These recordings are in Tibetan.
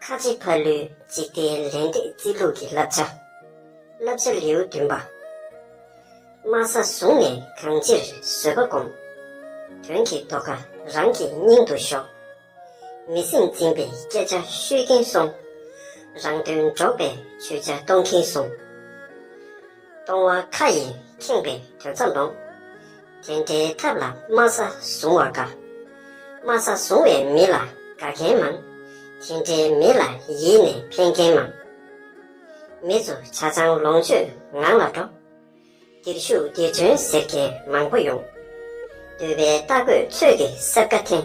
ཁ་ཆེ་ཕ་ལུའི་འཇིག་རྟེན་ལས་འབྲས་རྩིས་ལུགས་ཀྱི་བསླབ་བྱ། བསླབ་བྱ་ལེའུ་བདུན་པ། དམའ་ས་བཟུང་ནས་གང་ཅིར་བཟོད་པ་སྒོམ། དོན་གྱི་རྟོགས་ཁ་རང་གི་སྙིང་དུ་ཞོག། མི་སེམས་འཛིན་པའི་སྐད་ཆ་ཤོད་གིན་སོང། རང་དོན་འགྲོགས་པའི་ཆོས་ཆ་གཏོང་གིན་སོང། སྟོང་བ་མཁའ་ཡི་ཁེངས་པའི་དོན་རྩ་འདོང། དེ་འདྲའི་ཐབས་ལ་དམའ་ས་བཟུང་བ་དགའ། དམའ་ས་བཟུང་བའི་མི་ལ་དགའ་མཁན་མང། དེ་འདྲའི་མི་ལ་ཡིད་ནས་ཕན་མཁན་མང། མི་ཚོ་བྱ་ཚང་ལོངས་སྤྱོད་ངང་ལ་འགྲོ། འདིར་ཞུགས་འདིར་ཐོན་ཟེར་མཁན་མང་པོ་ཡོང། འདོད་པའི་རྟ་རྒོད་ཚོད་ཀྱི་སྲབ་ཁ་འཐེན།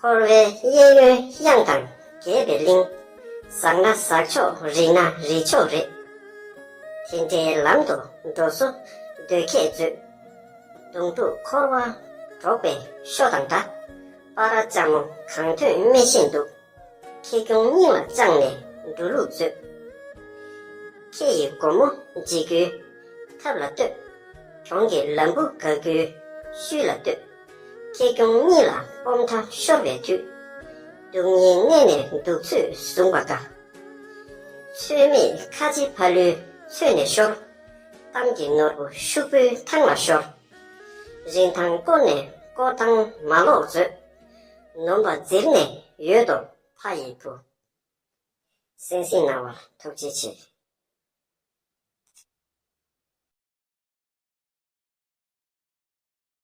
འཁོར་བའི་གཡས་གཡོན་གཡང་དང་གྱེས་པའི་གླིང། ཟག་ན་ཟག་ཆོག་རིད་ན་རིད་ཆོག་རེད། དེ་འདྲའི་ལམ་དུ་འགྲོ་བཟོ་འདོད་ཁྱེད་མཛོད། གདུང་དྲུག་འཁོར་བ་འགྲོགས་པའི་ཤོ་དང་འདྲ། པ་ར་ལྕགས་མོ་གང་ཐོན་སྨེ་བཞིན་འདུག། ཁྱེད་སྐྱོང་སྙིང་ལ་བཅངས་ནས་འགྲོ་ལུགས་མཛོད། ཁྱེད་ཡི་སྒོ་མོ་འབྱེད་རྒྱུའི་ཐབས་ལ་ལྟོས། གྲོང་གི་ལམ་བུ་དགག་རྒྱུའི་ཤུལ་ལ་ལྟོས། ཁེ་གྱོང་གཉིས་ལ་སྤོབས་མཐའ་ཤོར་བའི་དུས། སྡུག་བསྔལ་གནས་ནས་འདུག་ཚུལ་བཟུང་བ་དགའ། ཚོད་མེད་ཁ་ལྕེ་ཕ་ལུའི་ཚོད་ནས་ཤོར། གཏམ་གྱི་ནོར་བུ་ཤུག་པོའི་ཐང་ལ་ཤོར། རིན་ཐང་བསྐོར་ནས་བསྐོར་ཐང་མ་ལོག་མཛོད། ནོམ་པ་བརྫིར་ནས་ཡོད་དོ་ཕ་ཡི་བུ། སེང་སེང་རྣ་བར་ཐུགས་རྗེ་ཆེ།